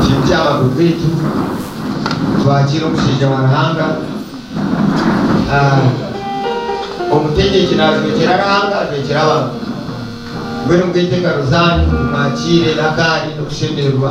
Nitwija abakuru baitu twakire omushaija wa Ruhanga. Omutegyeki najwekyera Ruhanga ajwekyera abantu. Mbwenu mugaite engaro zanyu mwakire akaari n'okushemererwa.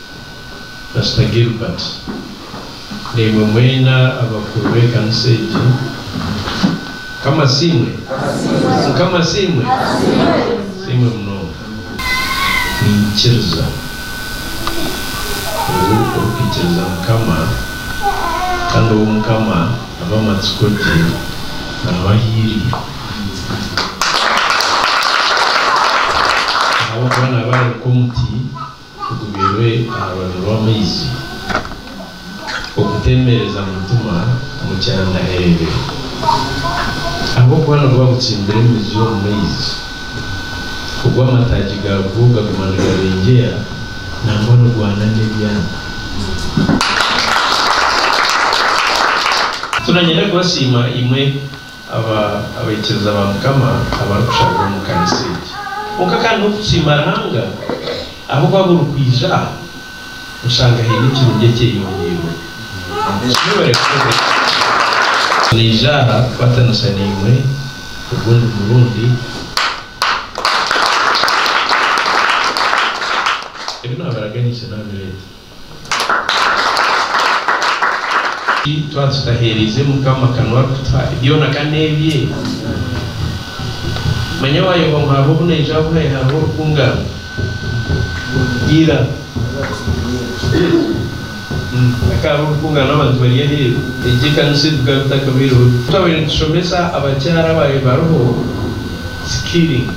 Pasita Gilbert, naimwe mwena abakuru b'ekanisa egi, Mukama asiimwe! Mukama asiimwe! Asiimwe munonga! Ninkiriza ngu orikuikiriza Mukama kandi ou Mukama aba amatsiko gye, naaba ahiirire. Ahabw'okuba naaba arabika omuti Tugumirwe aha rubaju rw'amaizi, okuteemereza mu ntima omu kyanda eebe. Ahabw'okuba niguba gutsimbire emizi omu maizi, ogwo amataagi gaagwo gaguma nigabengyea, nangwa nigwana n'ebyana. Turanyare kubasiima imwe. Aba abaikiriza ba Mukama abarikushabira omu kanisa egi. Kwonka kandi n'okusiima Ruhanga ahabw'okuba buri kwija aha oshanga haine ekirungi ekyeyongyirwe. Naija aha kukwatanisa naimwe ogundi murundi. Ebi naabaraganisa naabireeta. Twaba tutaheereize Mukama akanwa arikutuha byona ka n'ebye. Manya waayoba ngu hariho obu naija abuhaye hariho orukungana. Ira hakahariho orukungana abantu bari aheeru egyo ekanisa ebi bikaba bitakabaireho gye. Twabaire nitushomesa abakyara abaabaire bariho Sikiri.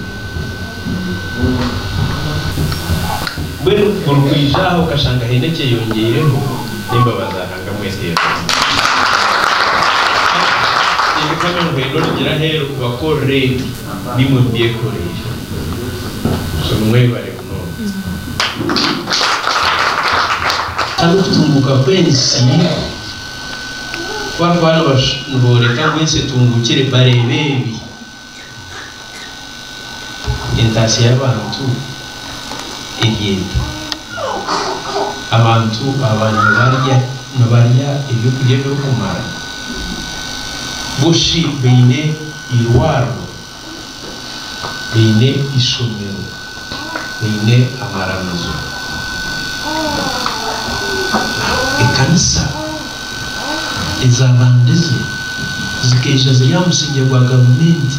Mbwenu orikwija aha okashanga haine ekyeyongeireho, n'embabazi za Ruhanga mweteraho. Tinkukama ngu haine orugire aheeru kubakorera ebi naimwe mubyekoreire. So nimwebare munonga. Kandi okutunguuka kw'ensi ku barikuba nibooreka ngu ensi etunguukire, bareeba ebi. Entaasya y'abantu eri eti, Abantu aba nibarya eby'okurya ebirikumara, bushi baine eirwariro, baine eishomero. baine amaramizo. Ekanisa ezabandize zikaija ziri aha musingye gwa gavumenti.